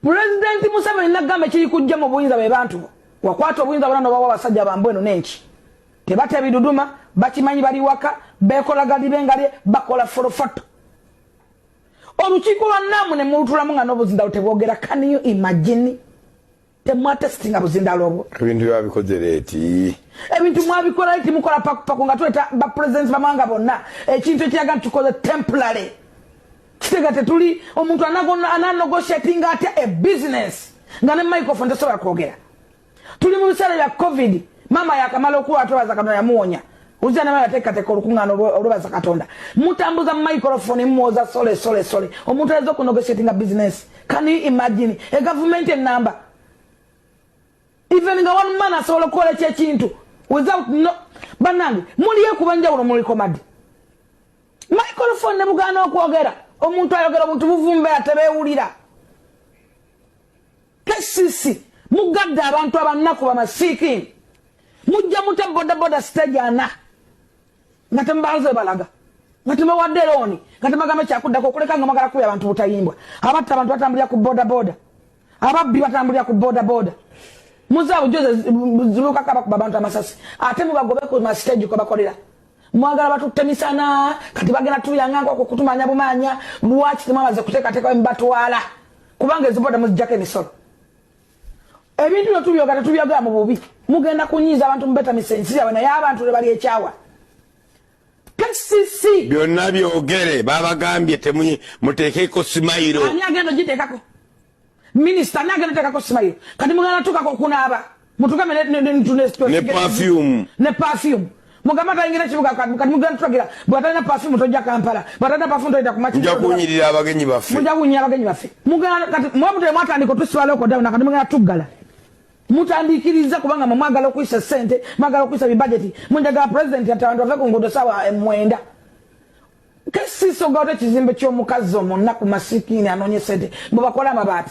President Museveni nagamba kiri kujja mu buyinza bwe bantu wakwata obuyinza bona no bawa basajja bambu eno nenki tebate biduduma bakimanyi bali waka bekola gadi bengali bakola forofoto olukiiko lwa namu ne mulutulamu nga n'obuzinda lutebwogera can you imagine temwatesitinga buzindaalo obwo ebintu byabikoze leeti ebintu mwabikola leeti mukola pakupaku nga tuleta bapulezidenti bamawanga bonna ekintu ekiraga nti tukoze temporary kitega tetuli omuntu ananogoshatinga atya e bizinesi nga ne microfone tesobola kwogera tuli mu biseera bya covid maama yakamala okuwa twebaza kano yamuwonya Uzza nabala teka teka olukungano olubaza katonda. Mutambuza microphone muoza sole sole sole. Omuntu azo ku negotiating a business. Can you imagine a government in number? Even nga one man asobola kola kye kintu without no banange muliye kubanja ulo muli komadi. Microphone ne bugana okwogera. Omuntu ayogera omuntu buvumbe atebewulira. KCC mugadde abantu abannaku bamasiikiini mujja muta bodaboda stage ana nga temubanze balaga nga temuwadde looni nga temagamba kyakuddako okuleka nga mwagala kubya abantu butayimbwa abatta abantu batambulira ku bodaboda ababbi batambulira ku bodaboda muzaabujozi zibukako abakuba abantu amasasi ate mubagobe ku mastage kwebakolera mwagala batutte misana kati bagenda tuyanga nkwako kutumanya bumanya lwaki temwamaze kuteekateeka wemubatwala kubanga eziboda muzijjako emisolo ebintu byo tubyoga tetubyogera mu bubi mugenda kunyiiza abantu mubetamisa ensi yabwe naye abantu lwe bali ekyawa kcc byonna byogere babagambye temuteekeko simayiro ani agenda ogiteekako Minister nange natekako smile kati mugana tukako okunaaba mutugambe ne ne ne perfume ne perfume mugamba tayingira kibuga kati mugana tulagira bwatalina perfume tojja kampala bwatalina perfume tojja kumachi mujja kunyirira abagenyi baffe mujja kunyirira abagenyi baffe mugana kati mwamutule mwatandika otusibala oko dawuna kati mugana tuggala mutandikiriza kubanga mwe mwagala okuyisa sente mwagala okuyisa bibajeti munjaga president ati abantu bave ku nguudo saawa mwenda Kesiso gawde kizimbe kyomukazi omunaku masikini anonye sente mubakole amabaati.